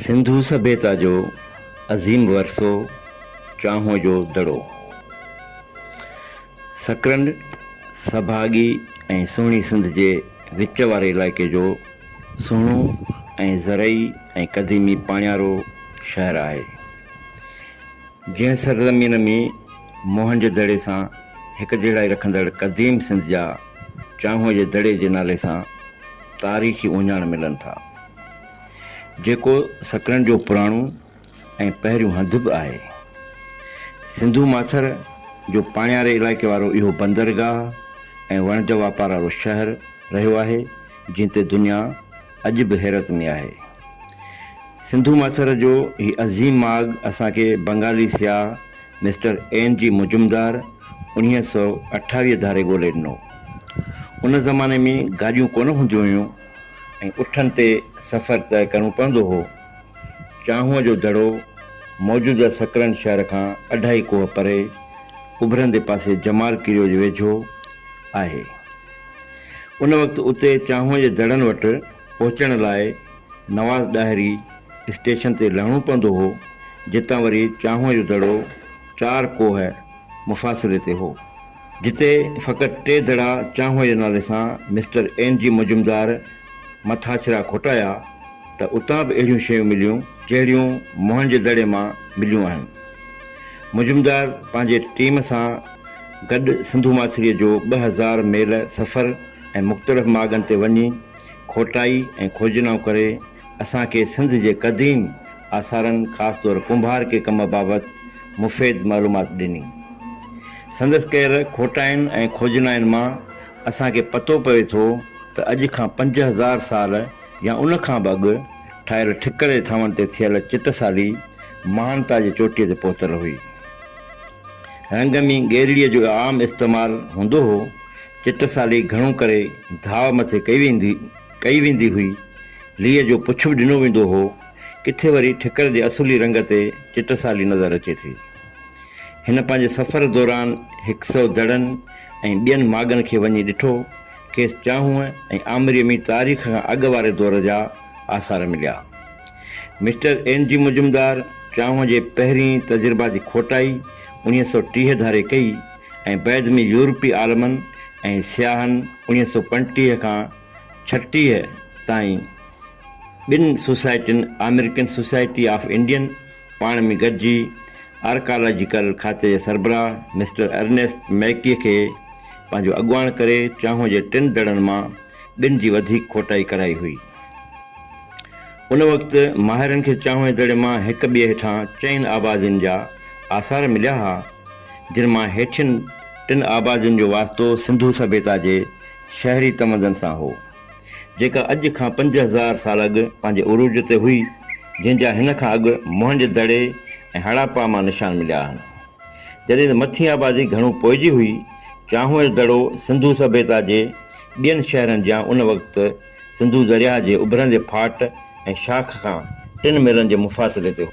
سنڌو سڀيتا جو عظيم ورثو چانهه جو دڙو سڪرنڊ سڀاڳي ۽ سهڻي سنڌ جي وچ واري علائقي جو سهڻو ۽ زرعي ۽ قديمي پاڻيارو شهر آهي جنهن سرزمين ۾ موهنجو دڙي سان هڪجهڙائي رکندڙ قديم سنڌ جا چانهه جي دڙي جي نالي سان تاريخي اهڃاڻ ملن ٿا. جيڪو سڪرنڊ جو پراڻو ۽ پهريون هنڌ به آهي. سنڌو ماٿر جو پاڻياري علائقي وارو اهو بندرگاهه ۽ وڻج واپار وارو شهر رهيو آهي، جنهن تي دنيا اڄ به حيرت ۾ آهي. سنڌو ماٿر جو هي عظيم ماڳ اسان کي بنگالي سياح مسٽر اين جي مجمدار انويهه سؤ اٺاويهه ڌاري ڳولي ڏنو. ان زماني ۾ گاڏيون ڪونه هونديون هيون. ۽ اٺن تي سفر طئه ڪرڻو پوندو هو. چانهوء جو دڙو موجوده سڪرنڊ شهر کان اڍائي ڪوهه پري اڀرندي پاسي جمال ڪريو جي ويجهو آهي. ان وقت اتي چانهوء جي دڙن وٽ پهچڻ لاء نواز ڏاهري اسٽيشن تي لهڻو پوندو هو، جتان وري چانهوء جو دڙو چار ڪوهه مفاصلي تي هو. جتي فقط ٽي دڙا چانهوء جي نالي سان مسٽر اين جي مجمدار مٿاڇرا کوٽايا ته اتان به اهڙيون شيون مليون جهڙيون موهن جي دڙي مان مليون آهن. مجمدار پنهنجي ٽيم سان گڏ سنڌو ماٿريء جو ٻه هزار ميل سفر ۽ مختلف ماڳن تي وڃي کوٽائي ۽ کوجنائون ڪري، اسان کي سنڌ جي قديم آثارن خاص طور ڪنڀار ڪي ڪم بابت مفيد معلومات ڏني. سندس ڪيل کوٽائن ۽ کوجنائن مان اسان کي پتو پوي ٿو ته اڄ کان پنج هزار سال يا ان کان به اڳ ٺاهيل ٺڪري ٿانون تي ٿيل چٽسالي مهانتا جي چوٽيء تي پهتل هئي. رنگ ۾ ڳيرڙيء جو عام استعمال هوندو هو. چٽسالي گهڻو ڪري ڌاء مٿي ڪئي ويندي. ڪئي ويندي هئي، ليئي جو پڇ به ڏنو ويندو هو، ڪٿي وري ٺڪر جي اصولي رنگ تي چٽسالي نظر اچي ٿي. هن پنهنجي سفر دوران هڪ سئو دڙن ۽ ٻين ماڳن کي وڃي ڏٺو، کيس چانهونء ۽ آمريء ۾ تاريخ کان اڳ واري دور جا آثار مليا. مسٽر اين جي مجمدار چانهونء جي پهرين تجرباتي کوٽائي انويهه سئو ٽيهه ڌاري ڪئي، ۽ بعد ۾ يورپي عالمن ۽ سياحن اڻيهه سؤ پنجٽيهه کان ڇٽيهه تائين ٻن سوسائٽين آمريڪن سوسائٽي آف انڊين پاڻ ۾ گڏجي آرڪالاجيڪل کاتي جي سربراهه مسٽر ارنيسٽ ميڪي کي پنهنجو اڳواڻ ڪري چانهه جي ٽن دڙن مان ٻن جي وڌيڪ کوٽائي ڪرائي هئي. ان وقت ماهرن کي چانهه جي دڙي مان هڪ ٻئي هيٺان چئن آبادين جا آثار مليا ها جن مان هيٺين ٽن آبادين جو واسطو سنڌو سڀيتا جي شهري تمدن سان هو، جيڪا اڄ کان پنج هزار سال اڳ پنهنجي عروج تي هئي، جنهن جا هن کان اڳ موهنج دڙي ۽ هڙاپا مان نشان مليا آهن. جڏهن ته مٿين آبادي گهڻو پوئجي هئي، چانهوئر دڙو سنڌو سڀيتا جي ٻين شهرن جيان ان وقت سنڌو درياهه جي اڀرندي ڦاٽ ۽ شاخ کان ٽن ميلن جي مفاصلي تي هو.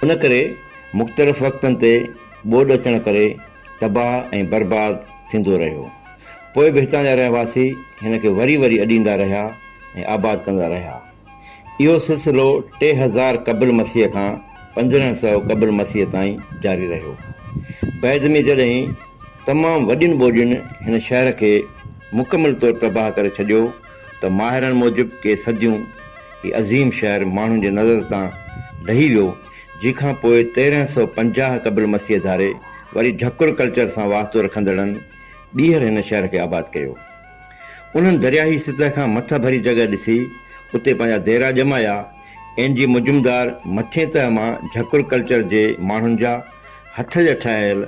ان ڪري مختلف وقتن تي ٻوڏ اچڻ ڪري تباهه ۽ برباد ٿيندو رهيو. پوء به هتان جا رهواسي هن کي وري وري اڏيندا رهيا ۽ آباد ڪندا رهيا. اهو سلسلو ٽي هزار قبل مسيح کان پندرهن سؤ قبل مسيح تائين جاري رهيو. بعد ۾ جڏهن تمام وڏين ٻوڏين هن شهر کي مڪمل طور تباهه ڪري ڇڏيو ته ماهرن موجب ڪي صديون هي عظيم شهر ماڻهن جي نظر تان لهي ويو جنهن کان پوء تيرهن سؤ پنجاهه قبل مسيح ڌاري وري ڍڪر ڪلچر سان واسطو رکندڙن ٻيهر هن شهر کي آباد ڪيو. انهن درياهي سطح کان مٿ ڀري جڳهه ڏسي اتي پنهنجا ديرا ڄمايا. اين جي مجمدار مٿين تهه مان جهڪر ڪلچر جي ماڻهن جا هٿ جا ٺاهيل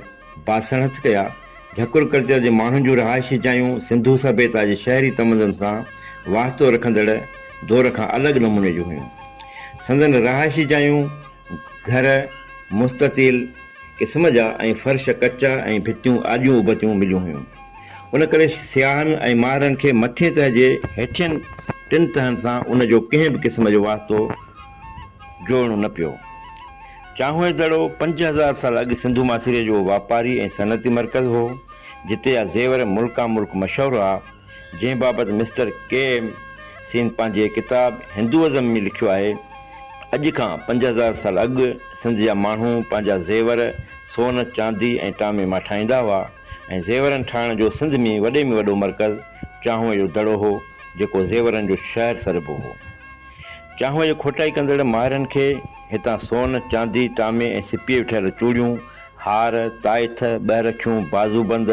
باسڻ هٿ ڪيا. جهڪر ڪلچر جي ماڻهن جون رهائشي جايون سنڌو سڀيتا جي شهري تمدن سان واسطو رکندڙ دور کان الڳ نموني جون هيون. سندن رهائشي جايون. گهر مستطيل قسم جا ۽ فرش ڪچا ۽ ڀتيون آجيون اوبتيون مليون هيون. ان ڪري سياحن ۽ ماهرن کي مٿين تهه جي هيٺين ٽن تهن سان ان جو ڪنهن به قسم جو واسطو جوڙڻو نه پيو. چانهوئي دڙو پنج هزار سال اڳ سنڌو ماٿيري جو واپاري ۽ صنعتي مرڪز هو، جتي جا زيور ملڪان ملڪ مشهور هئا. جنهن بابت مسٽر ڪي ايم سين پنهنجي ڪتاب هندوازم ۾ لکيو آهي، اڄ کان پنج هزار سال اڳ سنڌ جا ماڻهو پنهنجا زيور سون، چاندي ۽ ٽامي مان ٺاهيندا هئا ۽ زيورن ٺاهڻ جو سنڌ ۾ وڏي ۾ وڏو مرڪز چانهوء جو دڙو هو، جيڪو زيورن جو شهر سڏبو هو. چانهوء جي کوٽائي ڪندڙ ماهرن کي هتان سون، چاندي، ٽامي ۽ سپيء جون ٺهيل چوڙيون، هار، تائٿ، ٻهرکيون، بازوبند،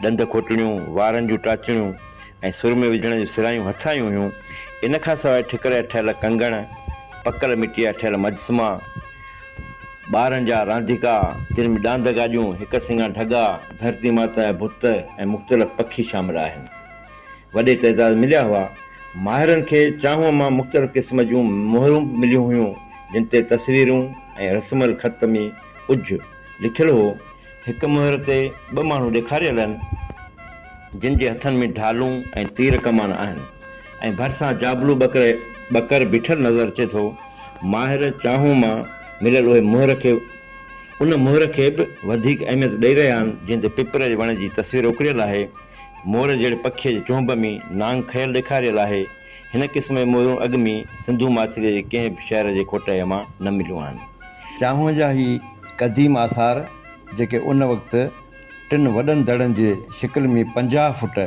ڏند کوٽڻيون، وارن جون ٽاچڻيون ۽ سرمي وجهڻ جون سرايون هٿ آيون هيون. ان کان سواء ٺڪر جا ٺهيل ڪنگڻ، پڪل مٽيء جا ٺهيل مجسما، ٻارن جا رانديڪا، جن ۾ ڏاند گاڏيون، هڪ سڱا ڍڳا، ڌرتي ماتا جا بت ۽ مختلف پکي شامل آهن، وڏي تعداد ۾ مليا هئا. ماهرن کي چانهون مان مختلف قسم جون مهرون به مليون هيون، جن تي تصويرون ۽ رسم الخط ۾ ڪجهه لکيل هو. هڪ مهر تي ٻه ماڻهو ڏيکاريل آهن، جن جي هٿن ۾ ڍالون ۽ تير ڪمان آهن ۽ ڀرسان جابلو ٻڪر ٻڪر بيٺل نظر اچي ٿو. ماهر چانهون مان مليل اهي مهر کي ان مهر کي به وڌيڪ اهميت ڏئي رهيا آهن، جنهن تي پپر جي وڻ جي تصوير اڪريل آهي. مور جهڙي پکيء جي چونب ۾ نانگ کيل ڏيکاريل آهي. هن قسم جون مهرون اڳ ۾ سنڌو معاصري جي ڪنهن به شهر جي کوٽائيء مان نه مليون آهن. چانهه جا هي قديم آثار، جيڪي ان وقت ٽن وڏن دڙن جي شڪل ۾ پنجاهه فوٽ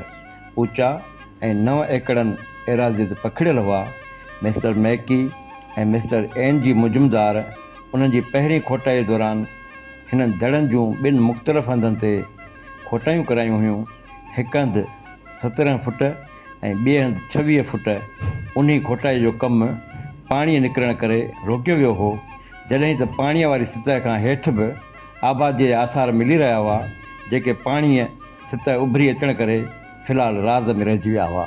اوچا ۽ نو ايڪڙن ايراضيء تي پکڙيل هئا، mister Mackay ۽ mister N G Majumdar انهن جي پهرين کوٽائيء دوران هنن دڙن جون ٻن مختلف هنڌن تي کوٽايون ڪرايون هيون، هڪ هنڌ سترهن فوٽ، ۽ ٻئي هنڌ ڇويهه فوٽ اونهي کوٽائي جو ڪم پاڻي نڪرڻ ڪري روڪيو ويو هو جڏهن ته پاڻي واري سطح کان هيٺ به آباديء جا آثار ملي رهيا هئا جيڪي پاڻيء سطح اڀري اچڻ ڪري في الحال راز ۾ رهجي ويا هئا.